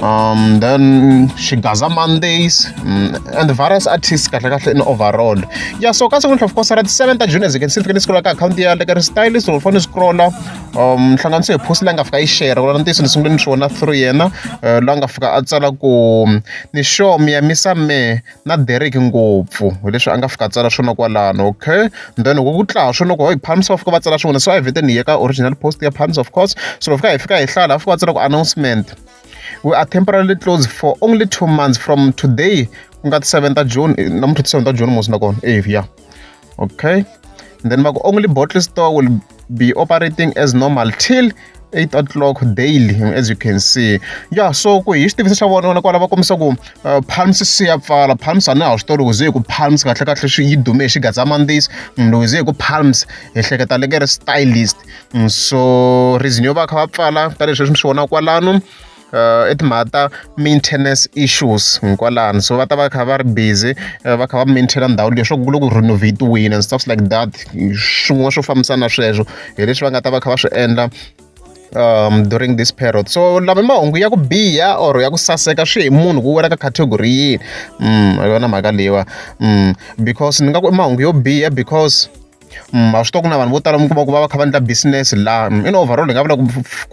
um then xigaza mondays um, and various artists kahle kahle in overall ya so ka siku of course ra ti-seven ta june as you can see ni fike ni scrolla ka akhawunti ya le ka restylist or fane ni scrolla um hlanganiso hi post leyi nga fika yi share wona ntiyiso ni sungule ni swi vona through yena uh, la nga fika a tsala ku ni sure mi ya misa me na Derek ngopfu hileswi a nga fika tsala swona kwalano okay then ku tlaa swo loko hi palms of va tsala swona so a hi vete ni ye ka original post ya palms of course so loko fika hi fika hi hlaya laha fika va tsala ku announcement we are temporarily closed for only two months from today ku nga ti 7 ta june namuntlha ti 7 ta june musi nakona eh ya okay and then maku only bottle store will be operating as normal till 8 o'clock daily as you can see ya so ku hi xitiviso xa vona vona kwala va kombisa ku uh, palms se ya pfala palms a na ha swi tori ku ze ku palms kahle kahle swi yi dume hi xigatsamandis mm, loko ze ku palms hi hleketa leke ri stylist mm, so reason yo va kha va pfala tanihileswi mi swi vona kwalano uh, i timhaka ta maintenance issues hinkwalani so va ta va kha va ri busy eh, va kha va maintaina ndhawu leyi leswaku ku loko renovate-wini and stuffs like that swin'wana swo fambisana sweswo hi leswi va nga ta va kha va swi endla um during this period so lama mahungu ya ku biha or ya ku saseka swi hi munhu ku wela ka category yini um yona mhaka leyiwa um because ni nga ku i mahungu yo biha because ma swi tiva ku na vanhu vo tala mi kuma ku va va kha va endla business laha in overall hi nga vula ku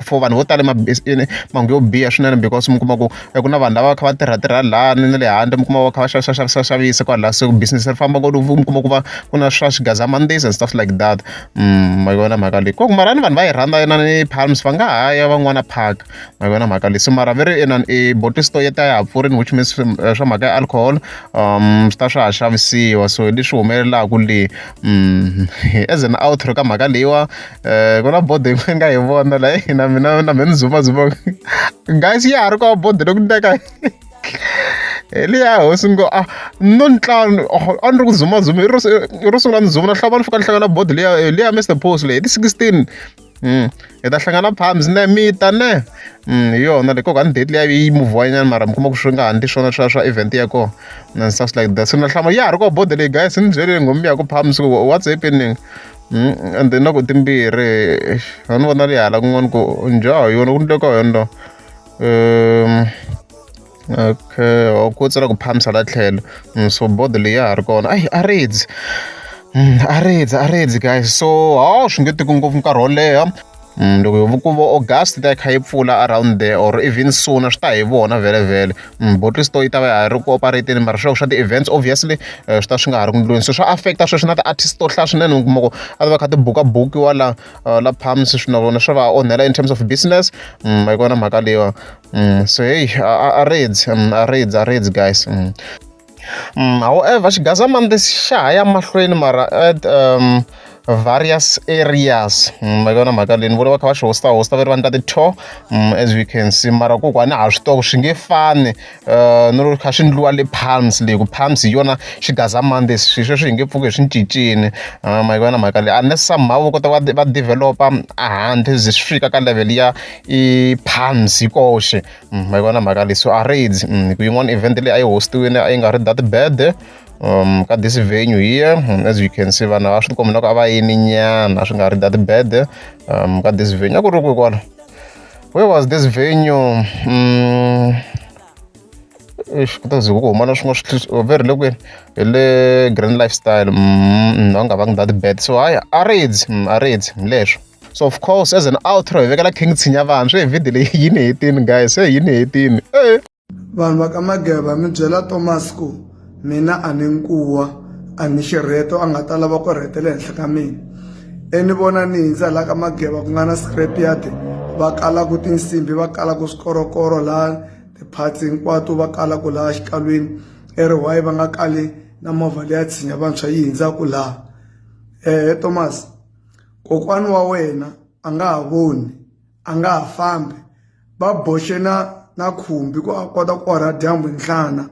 for vanhu vo tala mahungu yo biha swinene because mi kuma ku ku na vanhu lava va kha va tirha tirha laha ni na le handle mi kuma va kha va xavisa xavisa xavisa kwalaha se business ri famba ku mi kuma ku va ku na swa swigazamandzisi and stuff like that ma yi vona mhaka leyi ku mara ni vanhu va yi rhandza yona ni palms va nga ha ya van'wana park. ma yi vona mhaka leyi so mara ve ri inani i bottle store yi ta ya ha pfurini which means eh, swa mhaka ya alcohol um swi ta swa ha xavisiwa so hi leswi humelelaka le mm, as an outro ka mhaka leyiwa um ku na bode yin'we nga hi vona la eh, na mina na mina ni zumazuma guys ya ha ri kwa bode loku ndeka eliya hosi ngo a ah, no ntlhanu oh, a ni ri ku zumazuma ro sungula ni zuma na hlava ni fika ni hlangana bodi liya eh, liya mr post leyi hi ti-sixteen Mm. hi ta hlangana phambi ne mi ta ne mm, hi yona le koka ni date leyi yi muvhanyana mara mi kuma ku swi nga ha ndi swona swa swa event ya kona and stuff like that so na hlama ya ha ri ko bode leyi guys ni byele nghomi ya ku phambi siku what's happening mm, and then na ku timbirhi a ni vona leyi hala kun'wana ku njhaho yona ku ni le ka yona lo um Okay or ku tsala ku phamisa la tlhelo mm, so board leyi ya ha ri kona ayi a redzi mm, a redzi a redzi guys so hawu swi nge tiki ngopfu nkarhi wo leha Mm, loko hi ku vo august ta yi kha yi pfula around there or even sooner swi ta hi vona vhele vhele mm, bottle store yi ta va ya ha ri ku operateni mara swiloko swa ti-events obviously eh, swi ta swi nga ha ri ku ndlweni so swa affecta sweswi na ti-artist to hlaya swinene kuma ku a va kha ti buka bukiwa la eh, la palms swi na vona swa va onhela in terms of business mm, a yi kona mhaka leyiwa Mm, so hey aredzi mm, aredzi aredzi guys mm. Mm, however xigazamande xi xa ha ya mahlweni mara at um, various areas mm, ma vona mhaka leyi ni vona va kha va swi hosta hosta va ri va ni ta ti-tour mm, as we can see mara ku ku a ni ha swi toko swi nge fani um ni ri kha swi ndliwa le palms leyi ku palms hi yona xigazamande swi sweswi hi nge pfuki hi swi cincini um ma vona mhaka leyi unless somehow va kota va va developa a handle ze swi fika ka level ya i palms yi koxe mm, ma yi vona mhaka leyi so a raids mm, hi ku yin'wana event leyi a yi hostiwile a yi nga ri that bad um ka this venue here mm, as you can see vanhu a swi tikombi loko a va yini nyana swi nga ri that bad um ka this venue a ku ri kwi kwala where was this venue um kutazi ku huma na swin'wana swi veri le kwini hi le grand lifestyle va nga vangi that bad so hayi a raids a raids leswo so of course as an outro hi vekela king tshinya vanhu swi hi video leyi yi ni hetini guys se yi ni hetini e vanhu va ka mageba mi byela thomas ku mina a ni nkuwa a ni xirheto a nga ta lava ku rhetela henhla ka mina eni vona ni hindza laha ka mageba ku nga na scrap yard va kalaku tinsimbi va kalaku swikorokoro laha ti-parts hinkwato va kalaku laha xikalwini e ri why va nga kali na movha leya tshinya vantshwa yi hindzaku laha um thomas Kokwana wa wena a nga ha voni a nga ha fambi va boxe na na khumbi ku a kota ku orha dyambu nhlana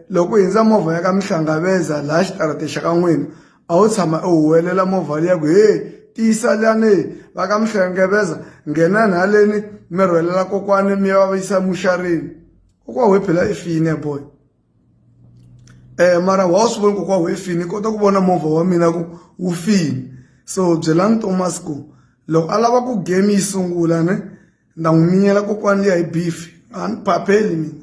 loko u hundza movha ya ka Mhlangaveza laha xitarateni xa ka n'wina a wu tshama u huwelela movha liya ku he tiyisa lani va ka Mhlangaveza nghenani haleni mi rhwalela kokwani mi ya va yisa emuxarini kokwana we phela i file boy. eh mara wa swi vona kokwa we fini kota ku vona movha wa mina ku wu fini so byelani thomas ku loko a lava ku game yi sungula ne nda n'wi minyela kokwani liya hi beef a ni phapheli mina